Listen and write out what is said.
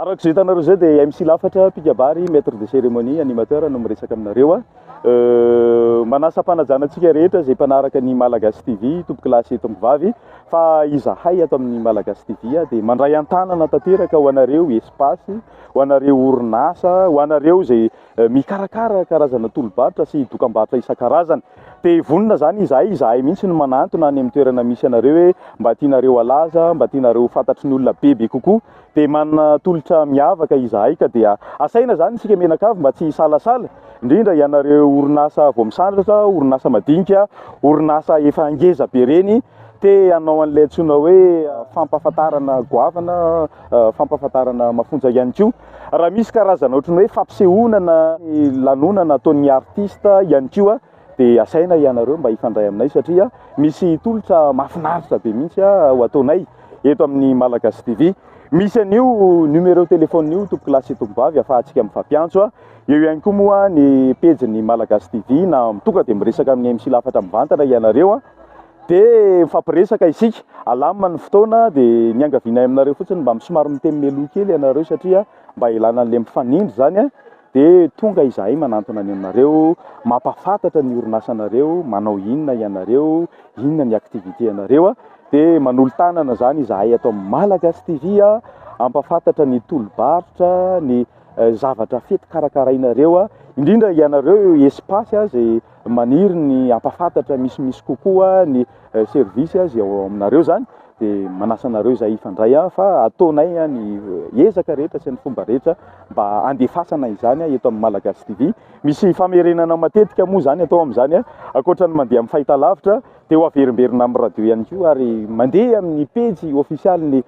Araka izay hitanareo izay dia MC Lafatra, mpikabary, maître de cérémonie, animateur no miresaka aminareo. Euh, manasa mpanajana antsika rehetra izay mpanaraka ny Malagasy TV, tompokilasy eto mivavy, fa izahay ato amin'ny Malagasy TV ah, dia mandray an-tanana tanteraka ho anareo espace, ho anareo orinasa, ho anareo izay mikarakara karazana tolo-barotra sy dokam-barotra isan-karazany. Te vonona izany izahay, izahay mihitsy no manantona any amin'ny toerana misy anareo hoe mba tianareo halaza, mba tianareo ho fantatry ny olona bebe kokoa. Dia manana tolotra miavaka izahay ka dia asaina izany isika mianakavy mba tsy hisalasala, indrindra ianareo orinasa vao misandratra, orinasa madinika, orinasa efa ngeza be ireny, te hanao an'ilay antsoina hoe fampahafantarana goavana, fampahafantarana mafonja ihany koa. Raha misy karazana ohatran'ny hoe fampisehoana na lanonana ataon'ny artista ihany koa dia asaina ianareo mba hifandray aminay satria misy tolotra mahafinaritra be mihitsy ho ataonay eto amin'ny Malagasy TV. Misy an'io numéro téléphone io tompoko lahy sy tompoko vavy afahantsika mifampiantso. Eo ihany koa moa ny pejy ny Malagasy TV na tonga dia miresaka amin'ny MC Lafatra mivantana ianareo. Dia mifampiresaka isika, alamina ny fotoana dia niangavianay aminareo fotsiny mba somary miteny meloha kely ianareo satria mba hilana an'ilay mifanindry izany dia tonga izahay manantona ny anareo, mampahafantatra ny orinasanareo, manao inona ianareo, inona ny activité-anareo dia manolo-tanana izany izahay ato amin'ny Malagasy TV hampahafantatra ny tolo-barotra, ny zavatra fety karakarainareo, indrindra ianareo Espace izay. Maniry ny hampafantatra misimisy kokoa ny service izay ao aminareo izany dia manasa anareo izay hifandray fa ataonay ny ezaka rehetra sy ny fomba rehetra mba handefasana izany eto amin'ny Malagasy TV. Misy famerenana matetika moa izany atao amin'izany ankoatra ny mandeha amin'ny fahitalavitra dia ho averimberina amin'ny radio ihany koa ary mandeha amin'ny pejy ofisialin'ny